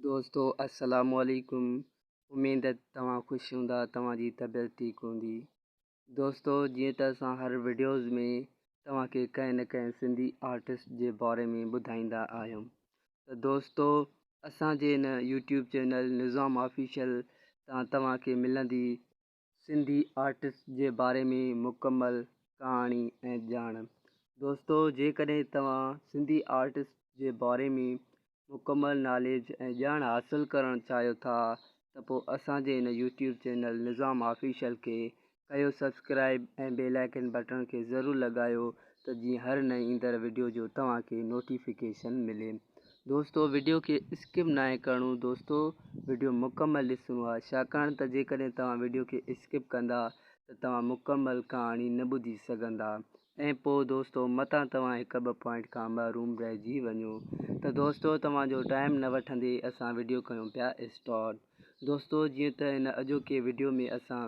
دوستو السلام عليڪم اميد توهان خوش هوندا توهان جي طبيعت ٺيڪ هوندي دوستو جيئن ته اسان هر وڊيوز ۾ توهان کي ڪنهن نه ڪنهن سنڌي آرٽسٽ جي باري ۾ ٻڌائيندا آهيون ته دوستو اسان جي هن يوٽيوب چينل نظام آفيشل تان توهان کي ملندي سنڌي آرٽس جي باري ۾ مڪمل ڪهاڻي ۽ ڄاڻ دوستو جيڪڏهن توهان سنڌي آرٽس جي باري ۾ مڪمل ناليج ۽ ڄاڻ حاصل ڪرڻ چاهيو ٿا ته پوء اسان جي هن يوٽيوب چينل نظام آفيشل کي ڪيو سبسڪرائب ۽ بيل آئڪن بٽڻ کي ضرور لڳايو ته جيئن هر نئين ايندڙ وڊيو جو توهان کي نوٽيفڪيشن ملي دوستو وڊيو کي اسڪپ ناهي ڪرڻو دوستو وڊيو مڪمل ڏسڻو آهي ڇاڪاڻ ته جيڪڏهن توهان وڊيو کي اسڪپ ڪندا ته توهان مڪمل ڪهاڻي نه ٻڌي سگهندا ۽ پوء دوستو متان توهان هڪ ٻه پوائنٽ کان محروم رهجي وڃو ته دوستو توهان جو ٽائيم نه وٺندي اسان وڊيو ڪيون پيا اسٽارٽ دوستو جيئن ته هن اڄوڪي وڊيو ۾ اسان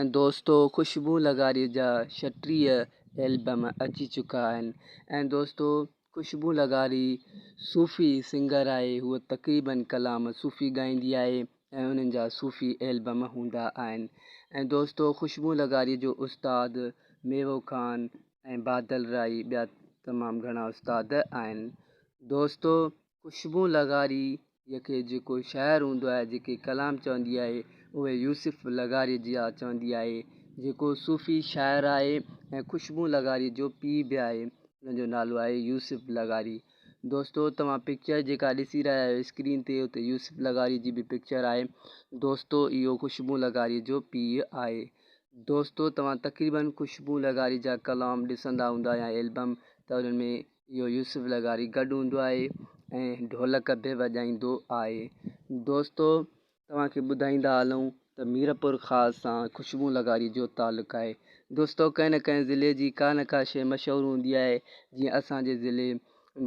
۽ دوستو خوشبو لغاريء جا ڇٽيهه البم اچي چڪا آهن ۽ دوستو خوشبو لغاري صوفي سنگر آهي هوء تقريبن ڪلام صوفي ڳائيندي آهي ۽ انهن جا صوفي البم هوندا آهن ۽ دوستو خوشبو لغاريء جو استاد ميوو خان ۽ بادل راهي ٻيا تمام گهڻا استاد آهن دوستو خوشبون لغاريء کي جيڪو شاعر هوندو آهي، جيڪي ڪلام چوندي آهي، اهي يوسف لغاريء جيان چوندي آهي، جيڪو صوفي شاعر آهي ۽ خوشبون لغاريء جو پيء به آهي، ان جو نالو آهي يوسف لغاري. دوستو توهان پڪچر جيڪا ڏسي رهيا آهيو اسڪرين تي اتي يوسف لغاري جي به پڪچر آهي. دوستو اهو خوشبون لغاريء جو پيء آهي. دوستو توهان تقريبن خوشبون لغاري جا ڪلام ڏسندا هوندا يا البم ته انهن ۾ اهو يوسف لغاري گڏ هوندو آهي ۽ ڍولڪ به وڄائيندو آهي دوستو توهان کي ٻڌائيندا هلون ته ميرپور خاص سان خوشبو لغاري جو تعلق آهي دوستو ڪنهن نه ڪنهن ضلعي جي ڪا نه ڪا شيء مشهور هوندي آهي جيئن اسانجي ضلعي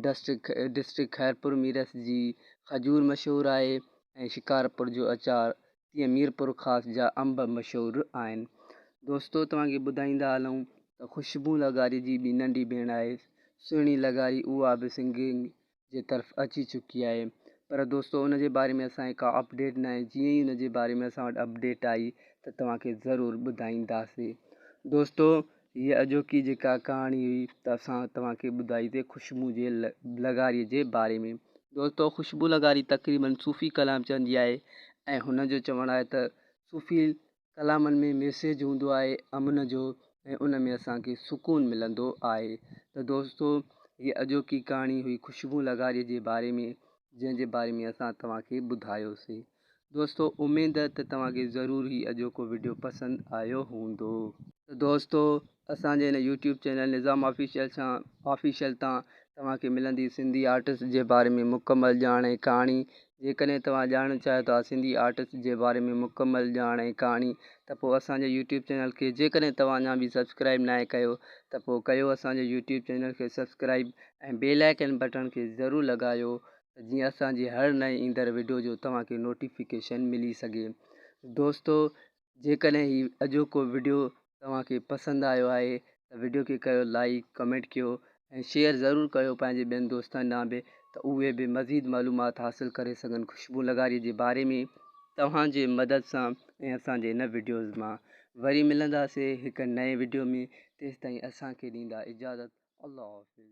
ڊسٽرڪ ڊسٽرڪ خيرپور ميرس جي کجور مشهور آهي ۽ شڪارپور جو اچار تيئن ميرپورخاص جا انب مشهور آهن. دوستو توهان کي ٻڌائيندا هلون ته خوشبو لغاري جي ٻي ننڍي ڀيڻ آهي سهڻي لغاري اها به سنگنگ جي طرف اچي چڪي آهي پر دوستو ان جي باري ۾ اسان کي ڪا اپڊيٽ ناهي جيئن ئي ان جي باري ۾ اسان وٽ اپڊيٽ آئي ته توهان کي ضرور ٻڌائينداسي دوستو هيء اڄوڪي جيڪا ڪهاڻي هئي ته اسان توهان کي ٻڌائي ته خوشبوء جي لغاريء جي باري ۾. دوستو خوشبوء لغاري تقريبن صوفي ڪلام چوندي آهي ۽ هن جو چوڻ آهي ته صوفي ڪلامن ۾ ميسيج هوندو آهي امن جو ۽ ان ۾ اسان کي سڪون ملندو آهي ته دوستو هيء اڄوڪي ڪهاڻي هئي خوشبوء لغاريء جي باري ۾ جنهن جي باري ۾ اسان توهان کي ٻڌايوسين. دوستو اميد ته توهان کي ضرور هي اڄوڪو وڊيو پسند آيو هوندو ته دوستو اسان جي هن يوٽيوب چينل نظام آفيشل سان آفيشل تان توهان کي ملندي سنڌي آرٽس جي باري ۾ مڪمل ڄاڻ ۽ ڪهاڻي جيڪڏهن توهان ڄاڻڻ چاهيو ٿا سنڌي آرٽس جي باري ۾ مڪمل ڄاڻ ۽ ڪهاڻي ته پوء اسان جي يوٽيوب چينل کي جيڪڏهن توهان اڃا به سبسڪرائب ناهي ڪيو ته پوء ڪيو اسان جي يوٽيوب چينل کي سبسڪرائب ۽ بيل آئڪن بٽڻ کي ضرور لڳايو ته جيئن اسان جي هر نئين ايندڙ وڊيو جو توهان کي نوٽيفڪيشن ملي سگهي دوستو جيڪڏهن هي اڄوڪو وڊيو توهان کي پسند آيو آهي ته وڊيو کي ڪيو لائيڪ ڪمينٽ ڪيو ۽ شيئر ضرور ڪيو پنهنجي ٻين دوستن ڏانهن به ته اهي به مزيد معلومات حاصل ڪري سگهن خوشبو لغاري جي باري ۾ توهان جي مدد سان ۽ اسان جي هن وڊيوز مان وري ملنداسي هڪ نئين وڊيو ۾ تيستائين اسان کي ڏيندا اجازت الله حافظ.